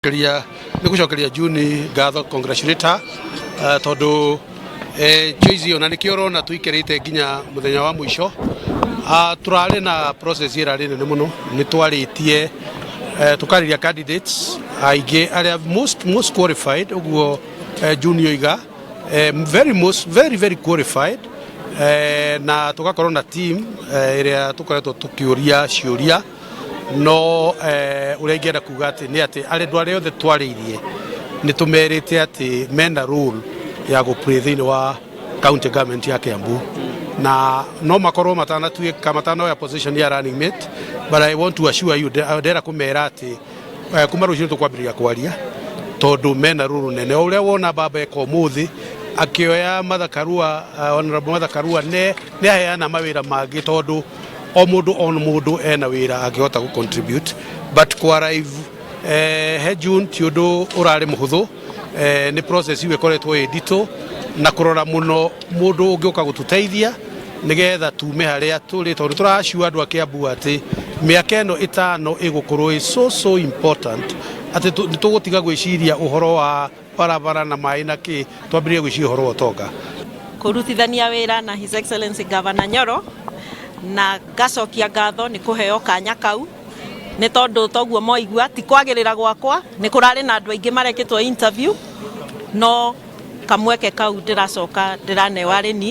Nĩgũcokeria- nĩgũcokeria juni ngatho congratulate her, eh, tondũ eh, choice ĩyo na nĩkĩo ũrona tũikarĩte nginya mũthenya wa mũico Ah, tũrarĩ na process ĩrarĩ nene mũno nĩ twarĩtie eh, tũkarĩria candidates aingĩ arĩa most, most qualified ũguo eh, juni oiga eh, very, most, very, very qualified eh, na tũgakorwo na team eh, ĩrĩa tũkoretwo tũkĩũria ciũria no eh, ũrĩa ingĩenda kuga atĩ nĩ atĩ arendwa arĩa othe twarĩirie nĩ tũmerĩte atĩ mena role ya gũpray thĩinĩ wa county government ya Kiambu na no makorwo matanatuĩka matanoya position ya running mate but I want to assure you nde- ndĩrenda kũmera atĩ eh, kuma rũciũ tũkwambĩrĩria kwaria tondũ mena rũrũ nene O ũrĩa wona baba eka ũmũthĩ akĩoya mathakarua uh, honorable mathakarua nĩ aheana mawĩra mangĩ tondũ o mũndũ o mũndũ ena wĩra angĩhota gũ contribute but kwa arrive eh, he June ti ũndũ ũrarĩ mũhũthũ eh, nĩ process iu ĩkoretwo ĩ nditũ na kũrora mũno mũndũ ũngĩũka gũtũteithia nĩgetha tume harĩa tũrĩ tondũ tũracua andũ a Kiambu atĩ mĩaka ĩno ĩtano ĩgũkorwo ĩ so so important atĩ tũ- nĩ tũgũtiga gwĩciria ũhoro wa barabara na maĩ na kĩ twambĩrĩrie gwĩciria ũhoro wa ũtonga kũrutithania wĩra na His Excellency Governor Nyoro na ngacokia ngatho nĩ kũheo kanya kau nĩ tondũ toguo moigua ti kwagĩrĩra gwakwa nĩ kũrarĩ na andũ aingĩ marekĩtwo interview no kamweke kau ndĩracoka ndĩraneo arĩ ni